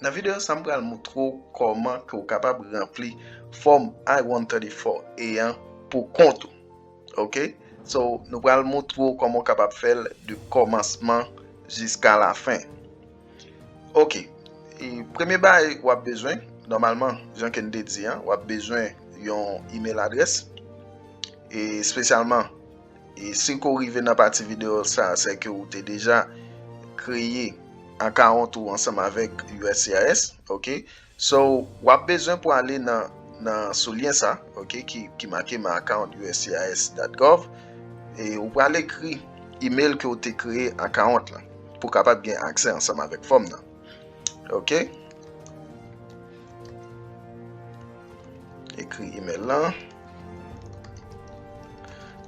Nan videyo sa m pral moutre w kòman ke w kapab ranpli fòm I-134A an pou kont ou. Ok, so nou pral moutre w kòman w kapab fè l de kòmansman jiska lafen. Ok, premye bagay w ap bezwen, nòmalman, jan ke n te di an, w ap bezwen yon email adrès, e spesyalman, e si ke w rive nan pati videyo sa, se ke ou te deja kreye akawont ou ansanm avèk uscis, ok. So wap bezwen pou ale nan nan sou lyen sa ok ki ki make my account uscis dot gov e ou pral ekri email ke ou te kreye account lan pou kapab gen aksè ansanm avèk fòm nan ok ekri email lan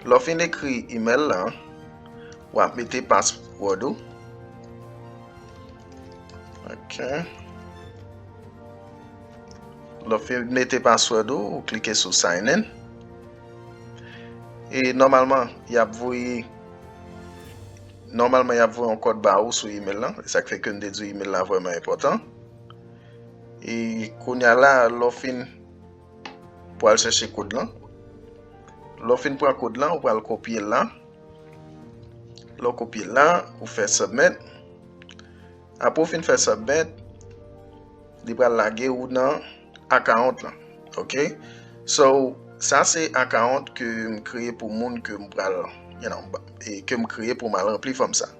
lè w fin ekri email lan wap mete password ou Ok. Lè w fin mete password ou, ou klike sou sign in. E normalman, y ap voye normalman y ap voye yon kòd ba ou sou email lan. Sa k fè ke m te di w email lan vrèman enpòtan. E kounya la, lè w fin pou al chèche kòd lan. Lè w fin pran kòd lan, ou pral kopye l lan. Lè w kopye l la, ou fè submit. Apre ou fin fè submit, li pral lage ou nan account lan. Ok, so sa se account ke m kreye pou moun ke m pral, you know, ke m kreye pou m al ranpli fòm sa.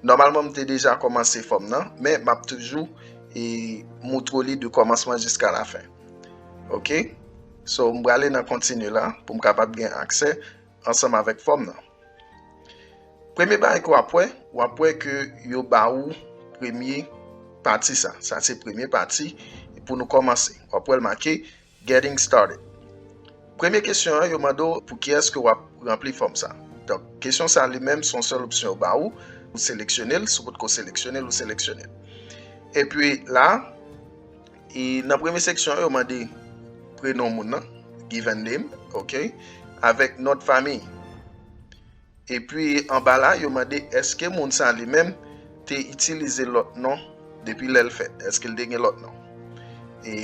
Nòmalman m te deja kòmanse fòm nan, men m ap toujou e moutre w li de kòmansman jiska la fen. Ok, so m prale nan continue la pou m kapab gen aksè. ansanm avèk fòm nan. Premye bagay ke w ap wè, w ap wè ke yo ba ou premye pati sa. Sa se premye pati pou nou kòmanse. W ap wè l make Getting Started. Premye kesyon an, yo mande w pou kiyès ke w ap ranpli fòm sa. Donk, kesyon sa li menm se yon sèl opsyon yo ba ou. Ou seleksyone l, si w potko seleksyone l, ou seleksyone l. Epi la. E nan premye seksyon an yo mande prenon moun nan, given name, ok, avèk non de fami. Epi anba la yo mande eske moun sa li menm te itilize lòt non depi lè l fèt, eske l te gen lòt non. E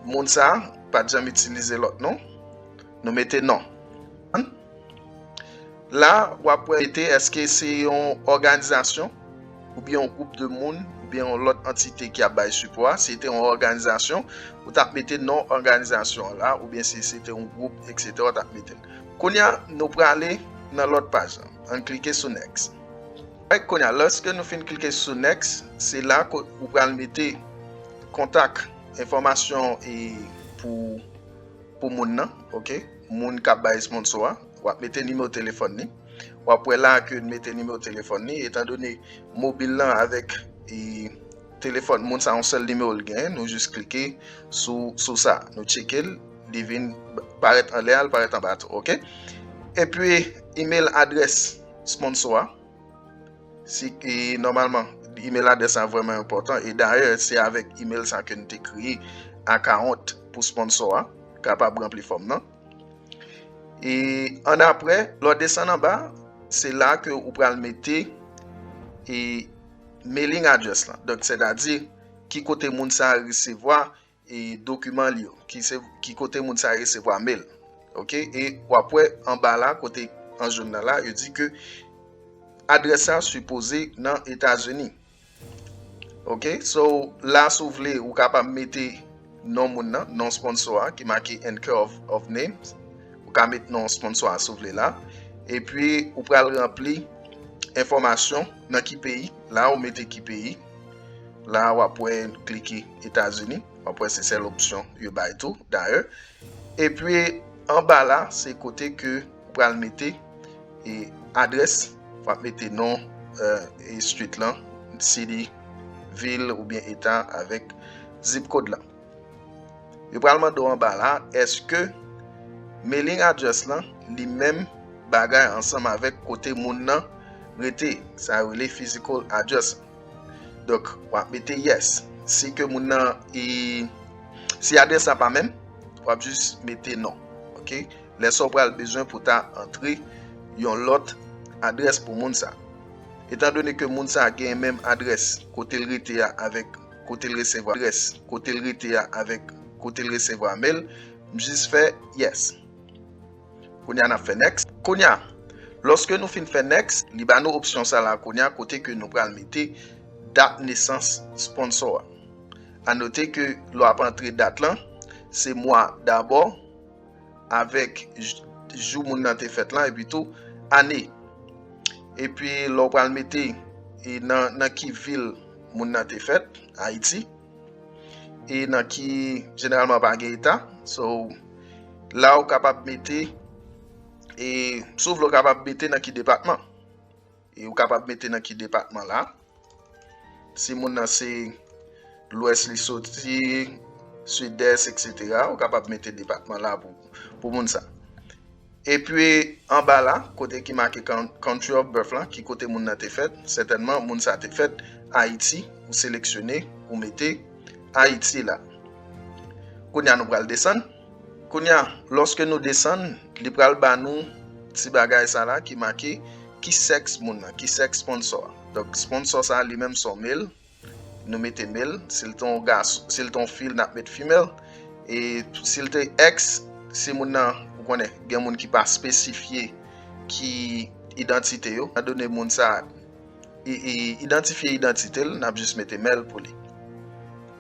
moun sa pa t janm itilize lòt non, nou mete non. La w ap wè te eske se yon òganizasyon ou byen yon gwoup de moun ou byen yon lòt antite ki ap bay sipò a. Se te yon òganizasyon, ou t ap mete non òganizasyon an la ou byen si se te yon gwoup eksetè ou t ap mete l. Kounye a, nou prale nan lòt paj lan. Ann klike sou Next. Rèk kounye a, lòske nou fin klike sou Next, se la ou pral mete kontak, enfòmasyon pou moun nan. moun kap bay esponso a, wap mete nimewo telefòn ni, wap wè la ke mete nimewo telefòn ni, etan done mobil lan avèk e telefòn moun sa yon sèl nimewo l gen, nou jis klike sou sa, nou tcheke l, li vin parèt anlè a, li parèt anba tou, ok, epi email adrès esponso a. Si e nòmalman email adrès sa vrèman enpòtan e dayè se avèk email sa ke nou te kreye akawont pou sponsò a kapab ranpli fòm nan. E an apre, lò desann an ba, se la ke ou pral mete e mailing adrès la. Donk sètadi ki kote moun sa resevwa E dokiman li yo. Ki kote moun sa resevwa mail. Ok e wap wè anba la kote an joun nan la yo di ke adrès sa sipoze nan Etazini. Ok so la sou vle ou ka pa mete non moun nan, non sponsò a ki make and care of names. Ou ka mete non sponsò a sou vle la. E pi ou pral ranpli enfomasyon nan ki peyi. La ou mete ki peyi. La a wap wè n klike Etazini, wap wè se sèl opsyon yo bay tou dayè. Epi anba la se kote ke ou pral mete e adrès, wap mete non e street lan, city, vil oubyen eta avèk zip kod la. Yo pral mande w anba la eske mailing address lan li menm bagay ansanm avèk kote moun nan rete, sa yo rele physical address. Donk w ap mete yes. Si ke moun nan e, si adrès la pa menm, w ap jis mete non. Ok, lè sa w pral bezwen pou ta antre yon lòt adrès pou moun sa. Etan done ke moun sa genyen menm adrès kote l rete a avèk. kote l resevwa adrès kote l rete a avèk kote l resevwa mail m jis fè yes kounya nap fè next kounya lòske nou fin fè next li ba nou opsyon sa la kounya kote ke nou pral mete dat nesans sponsor a anote ke lè wap antre dat lan se mwa dabò. avèk jou moun nan te fèt lan epi tou ane. Epi lè w pral mete e nan ki vil moun nan te fèt, Ayiti, e nan ki jeneralman pa gen eta, so la ou kapab mete e sou vle ou kapab mete nan ki depatman. E ou kapab mete nan ki depatman la. Si moun nan se lwès li soti, sidès, etc. Ou kapab mete depatman la pou moun sa. E pi anba la, kote ki make country of birth la, ki kote moun nan te fèt. Sètènman, moun sa te fèt Ayiti. Ou seleksyone, ou mete Ayiti la. Kounye a nou pral desann. Kounye a, lòske nou desann, li pral ba nou ti bagay sa la ki make ki sèks moun nan, ki sèks sponsò a. Donk, sponsò sa a li menm se yon male, nou mete male, si l te yon gason, si l te yon fi l, n ap met female, e si l te èks, si moun nan, ou konnen, gen moun ki pa espesifye ki idantite yo, nan done moun sa a. idantifye idantite l, n ap jis mete mèl pou li.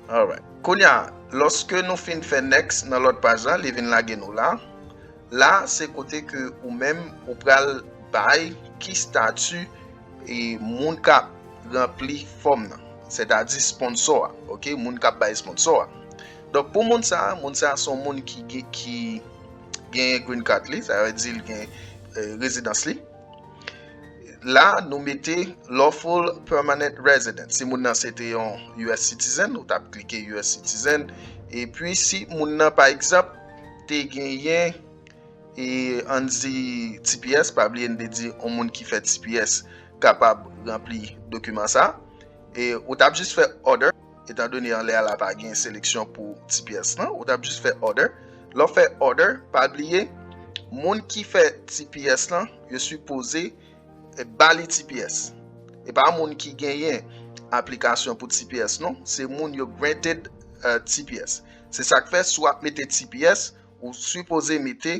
Alright. Kounye a, lòske nou fin fè next nan lòt paj la, li vin lage nou la. La, se kote ke ou menm ou pral bay ki stati moun k ap ranpli fòm nan. Sètadi sponsò a. Ok, moun k ap bay sponsò a. Donk pou moun sa, moun sa son moun ki genyen green card li, sa vle di l gen rezidans li. La nou mete lawful permanent resident. Si moun nan se te yon US citizen, nou tap klike US citizen. E pi si moun nan pa egzap te genyen e an di TPS, pa bli en de di yon moun ki fè TPS kapab rempli dokumen sa. E ou tap jis fè order. etan done anlè a la pa gen seleksyon pou ti pyès lan, ou tap jis fè order, lè w fè order pa bliye moun ki fè ti pyès lan yo sipoze ba li ti pyès e pa moun ki genyen aplikasyon pou ti pyès non, se moun yo granted ti pyès se sak fè si w ap mete ti pyès ou sipoze mete.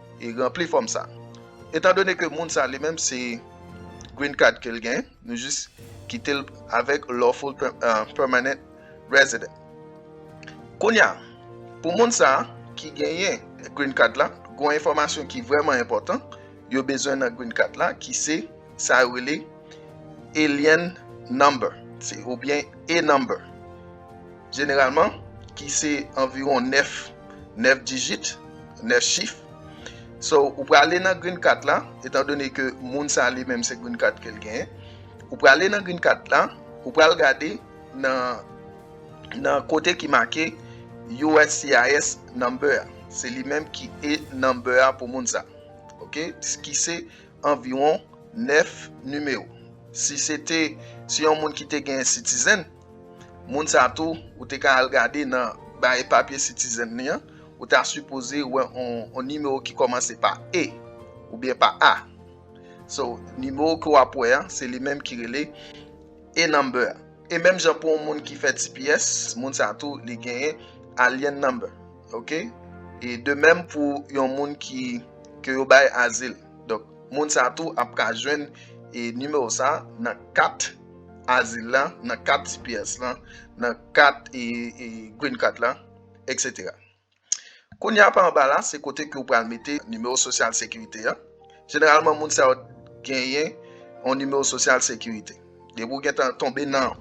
e ranpli fòm sa. Etan done ke moun sa li menm se Green Card ke l gen, nou jis kite l avèk Lawful Permanent Resident. Kounye a, pou moun sa ki genyen Green Card la, gon enfòmasyon ki vrèman enpòtan yo bezwen nan Green Card la ki se sa yo rele Alien Number, oubyen E-Number. Jeneralman, ki se anviwon 9 9 dijit, 9 chif. So, ou prale nan green card la, etan done ke moun sa li menm se green card ke l genyen, ou prale nan green card la, ou pral gade nan nan kote ki make uscis number a. Se li menm ki e number a pou moun sa. Ok, ki se anviwon 9 nimewo. Si se te, si yon moun ki te genyen citizen, Moun sa tou ou te ka al gade nan baye papye citizen li an, ou ta sipoze wè yon nimewo ki kòmanse pa E oubyen pa A. So, nimewo ke w ap wè an, se li menm ki rele E number. E menm jan pou yon moun ki fè tps, moun sa tou li genyen alien number. Ok? E de menm pou yon moun ki ke yo bay azil. Donk, moun sa tou ap ka jwenn e nimewo sa nan kat azil la, nan kat tps lan, nan kat green card la, etc. Kounye a pa anba la, se kote ke ou pral mete nimewo sosyal sekirite a. Jeneralman moun sa yo genyen yon nimewo sosyal sekirite. Depi ou gen tan tonbe nan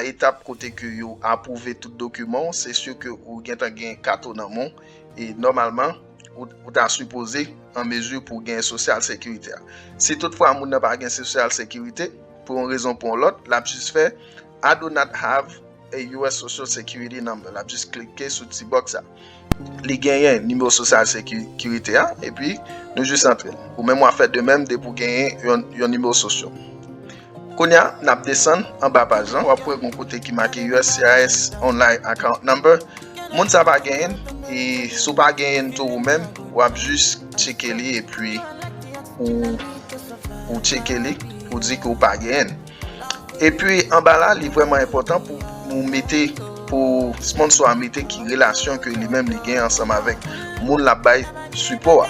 etap kote ke yo apwouve tout dokiman ou, se sye ke ou gen tan gen kat ou nan men ou, e nòmalman, ou ta sipoze an mezi pou gen sosyal sekirite a. Si tout fwa moun nan pa gen sosyal sekirite, pou yon rezon pou yon lòt, l ap jis fè I do not have a US social security number, l ap jis klike sou ti box sa. Li genyen nimewo sosyal sekirite a, epi nou jis antre l. Ou menm w ap fè de menm depi w genyen yon nimewo sosyo. Kounye a, n ap desann anba paj lan, w ap wè gen yon kote ki make uscis online account number. Moun sa pa genyen l, e si w pa genyen l tou ou menm, w ap jis tcheke li epi ou tcheke li pou di ke w pa genyen l. Epi anba la, li vrèman enpòtan pou ou mete, pou sponsò a mete ki relasyon ke li menm li genyen ansanm avèk moun l ap bay sipò a.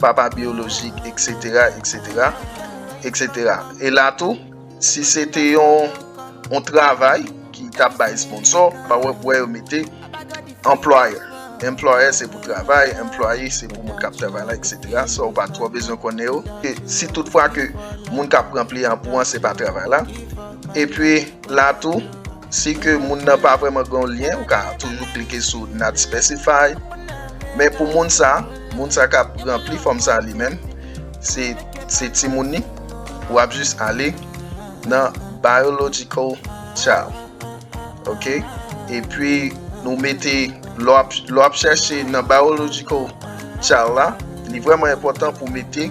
papa biyolojik, eksetera, eksetera, eksetera. E la tou, si se te yon travay ki tap bay esponsò, pa wè pou wè yo mete employer. Employer se pou travay, employee se pou moun kap travay la, eksetera. Sa ou pa twò bezwen konnen yo. E si tout fwa ke moun kap pran pli an pou an se pa travay la. E pi la tou. Si ke moun nan pa vreman gen yon lyen, ou ka toujou klike sou not specify. Men pou moun sa, moun sa kap rempli fòm sa li menm, se se ti moun ni, ou ap jis ale nan biological child. Ok? E pi nou mete lò ap lò ap chèche nan biological child la, li vreman enpòtan pou mete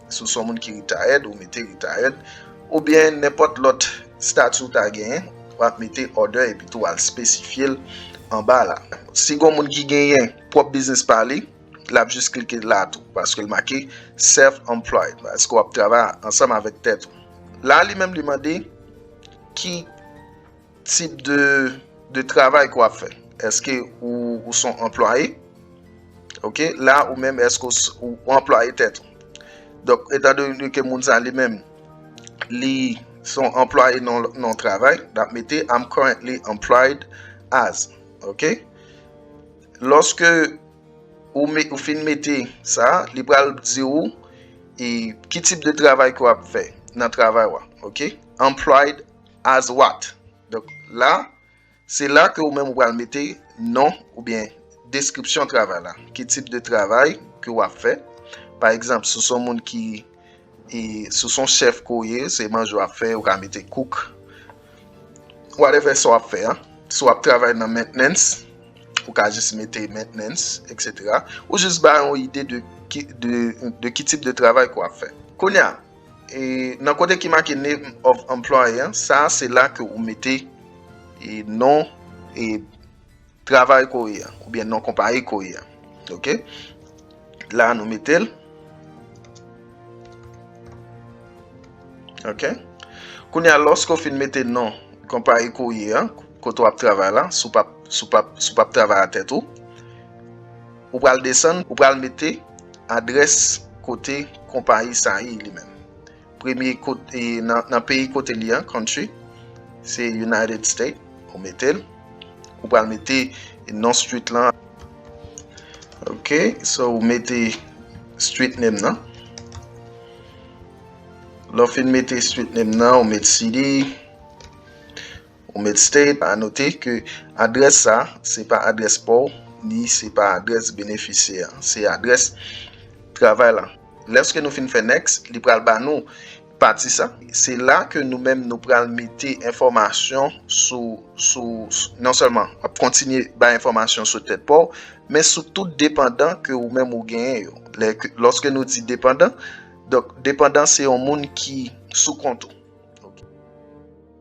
Si w se yon moun ki retired, ou mete retired. Oubyen nenpòt lòt stati ou ta genyen, w ap mete other epi tou w al espesifye l anba la. Si gen yon moun ki genyen pwòp biznis pa li, l ap jis klike la tou paske l make self employed paske w ap travay ansanm avèk tèt ou. La li menm li mande ki. Tip de travay ke w ap fè. Eske ou son anplwaye? Ok, la ou menm eske ou anplwaye tèt ou? Donk, etan done ke moun sa li menm li son anplwaye nan yon travay, l ap mete I'm currently employed as. Ok? Lòske ou fin mete sa, li pral di ou ki tip de travay ke w ap fè nan travay ou a. Ok? Employed. As what? Donk la, se la ke ou menm ou pral mete non oubyen deskripsyon travay la. Ki tip de travay ke ou ap fè. Pa egzanp, si w se yon moun ki, si w se yon chèf ke ou ye, se manje ou ap fè, ou ka mete cook. Whatever sa w ap fè an. Si w ap travay nan maintenance, ou ka jis mete maintenance, etc. Ou jis bay yon ide de ki tip de travay ke ou ap fè. Kounye a. E nan kote ki make name of employer an, sa a se la ke ou mete e non e travay ke ou ye an, oubyen non konpayi ke ou ye an. Ok. La nou mete l. Ok. Kounye a lòske ou fin mete non konpayi ke ou ye an, kote ou ap travay la, si w pa ap travay a tèt ou. Ou pral desann, ou pral mete adrès kote konpayi sa ye li menm. Premye kote nan peyi kote li an, country, se United States, ou mete l. Ou pral mete non street lan. Ok, so ou mete street name nan. Lè w fin mete street name nan, ou mete city. Ou met stay pa note ke adrès sa se pa adrès pa w ni se pa adrès benefisyè an se adrès travay la lèske nou fin fè next li pral ba nou pati sa se la ke nou menm nou pral mete enfòmasyon sou sou non sèlman wap kontinye bay enfòmasyon sou tèt pa w men sou tout depandan ke ou menm ou genyen yo lèske nou di depandan donk depandan se yon moun ki sou kont ou ok.